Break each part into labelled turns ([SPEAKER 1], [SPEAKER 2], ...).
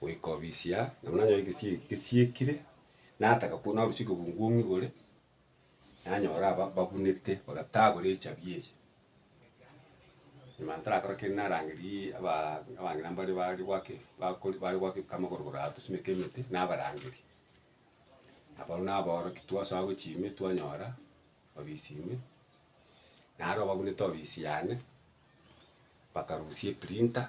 [SPEAKER 1] goika obisia, nabo nanyora egesie eke gesiekire, nataka korwa narusia ekebungu ng'igore, nanyora aba babunete bagatagora echabi eye. Nyuma ntarakora kende narangeriaaa abaa abang'ina mbare bare gwake bakori bare gwake amagoro boraa tosimeke emete, nabarangeria. Abwo nabaorokia twasoa gochia ime twanyora obisi ime, naro babunete obisi yane, bakarusia eprinter.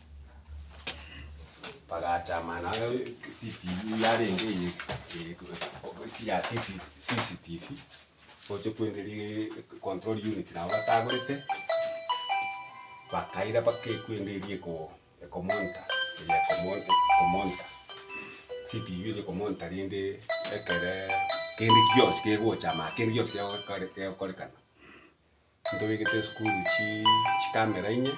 [SPEAKER 1] bagachama naye CCTV yarenge eye eye obo sia sisi CCTV, gocha kwenderia control unit nabo batagorete, bakaira bakekwenderia eko ekomonitor eye ekomo ekomonitor CCTV eye ekomonitor rende ekere kende gionsi kegochama kende gionsi kegokore kegokorekana. Ntobegete esukuru chi chikamera inye,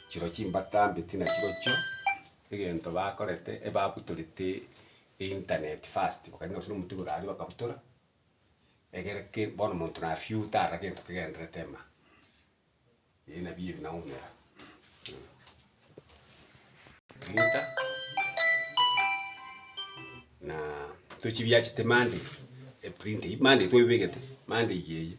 [SPEAKER 1] chiro chimbata mbeti nachirochio, egento bakorete ebabutorete internet first, bakagenda gose nomote igoro aria bakabutora, egere ke bono monto na few tarora gento kegenderete ema. Ebi nabio ebi naumera printer na tochibiachete monday, eprint monday twebegete monday eye.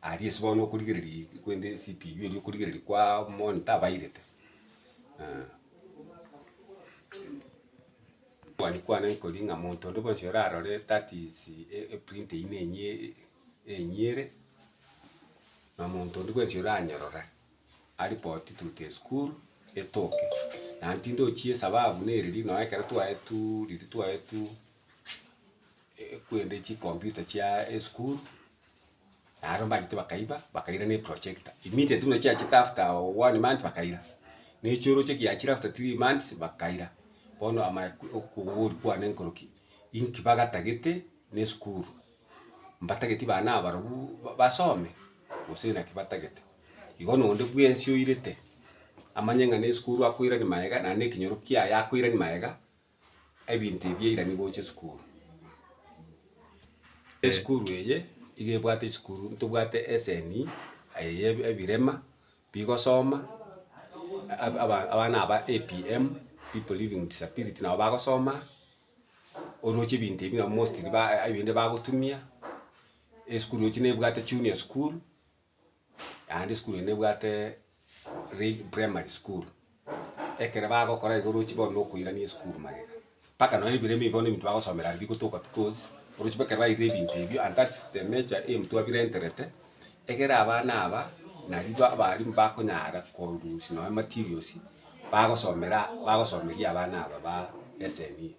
[SPEAKER 1] Aria ase bono okorigereria eg- kende CPU eria okorigereria kwaaa mono tabairete mani kwane nkoria ng'a monto onde bwensi orarore that is e- eprint eywo na enyie enyere, na monto onde bwensi oranyorora aripoti to the school etoke. Naende tindi ochie esababu na ereri, noe ekero twaetu riria twaetu. ekwende chikomputa chia esukuru, naaro mbachete bakaiba, bakaira na eprojector, immediate buna chiachete after one month bakaira, na echioroche ekiachire after three months bakaira, bono ama okogori kwane nkoroki, inki bagatagete na esukuru, mbatageti bana abarobwo ba basome, gose naki batagete. Igo na onde bwensi oirete, amanye ng'a na esukuru akoirania magega, naende ekenyoro kiaye akoirania magega. ebinto ebi eira nigo oche esukuru. Esukuru eye iga ebwate esukuru ntobwate eseni aye ya ebi- ebirema bigosoma ab- aba- abana aba APM, people living with disability, nabo bagosoma oroche ebinto ebi nabo mostly ba ebinde bagotumia, esukuru roche nebwate junior school. naende esukuru eye nebwate rei primary school, ekere bagokora iga orochi bono na okoirania esukuru magega, mpaka nonya ebiro ebibe bono ebinto bagosomera aria bigotoka because orochi bono ekero bairire ebinto ebio and that's the nature emu twabirenterete, egere abana aba nario ba abalimu bakonyara korusia nonya materials bagosomera bagosomeria abana aba ba SNU.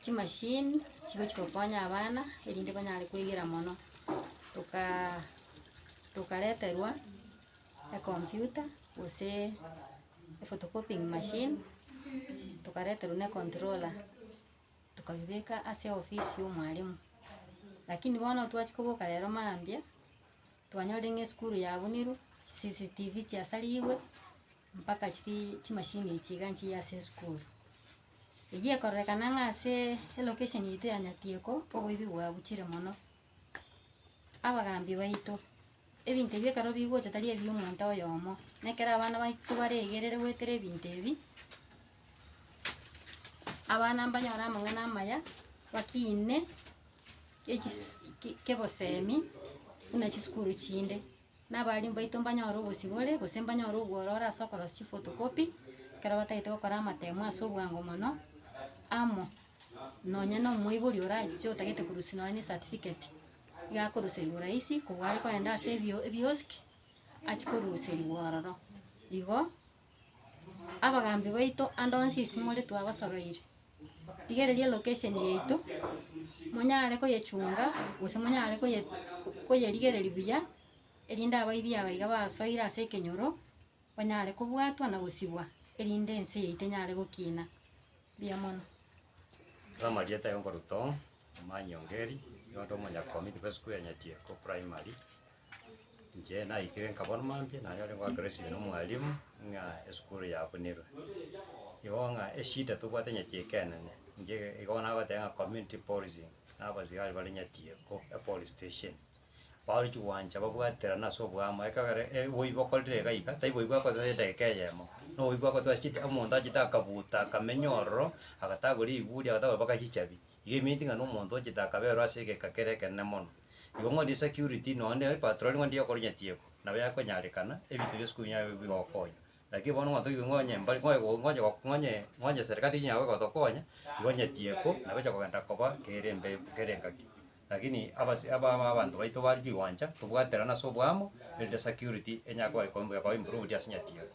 [SPEAKER 1] chimashini chigochia gokonya abana erinde banyare koigera mono, tokaa tokareterwa ekomputa gose photocopying machine, tokareterwa ne controller, tokabibeka ase ofisi ya omwalimu. Lakini bono twachia koboka rero mambia, twanyorire ng'a esukuru yabunirwe, CCTV chiasarigwe, Mpaka chiki chimachine echi iga nchiya ase esukuru. Eyio ekororekana ng'a ase elocation yaito ya Nyatieko, oboibi bwabuchire mono. Abagambi baito, ebinto ebi ekero bigocha tari ebio omonto oyomo, na ekero abana baito baregerere goetera ebinto ebi, abana mbanyore amang'ana amaya, bakine echis- ki- kebosemi buna chisukuru chinde. Na abarimu baito mbanyore obosibore, gose mbanyore obwororo ase okorosia chifotokopi, ekero batagete gokora amatemo ase obwango mono, amo nonya na omoibori orache otagete korusia nonya na esatifiketi, iga akoruseriwa orahisi korwa are kogenda ase ebio- ebiosiki, achi koruseriwa ororo igo. Abagaambi baito ande onsi isi more twabasoroire, rigereria location yaito, monyare koyechunga gose monyare koye koyerigereria buya, erinde abaibia aba iga basoire ase ekenyoro, banyare kobwatwa na gosibwa, erinde ense yaito enyare gokina, mbuya mono. Ase amarieta ayio nkorwa Tom, Omanyongeri, nigo nde omonyakomiti bw'esukuru ya Nyatieko Primary, Inche naikire nkabora omambia naye ore goaka recibe na omwalimu ng'a esukuru yabunerwe. Igo ng'a eshida tobwate nyeti ekeene, inche igo nabatebia ng'a community policing, na abasigari bare nyeti eko epolice station. Baruchi gwancha babwaterana ase oboamo ekegera oboibi bokorire iga iga, tari boibi bwakorire ase edageka eyemo, na oboibi bwakorire ase chida omonto achete akabuta akamenya ororo, agatagwa riburi agatagwa mpaka chichabi, igo eminti ng'a na omonto ochete akaberwa ase egeka kere ekenene mono. Igo ng'o ndi security nonde e patroli ng'o ndiyo okorinya tieko, nabo yakonyarekana, ebinto bionsi kobi nabio bigokonya. Lakini bono ng'o toigwe ng'o onye mbari ng'o oye ng'o onye ng'o onye ng'o onye serikali tiga yao egotokonya, igo onye tieko, nabo eche kogenda koba kere embe kere engaki. Lakini abas aba aba abanto baito bare chiwancha, tobwaterane ase oboamo, erinde security enyare koba eko koba improved ase onye tieko.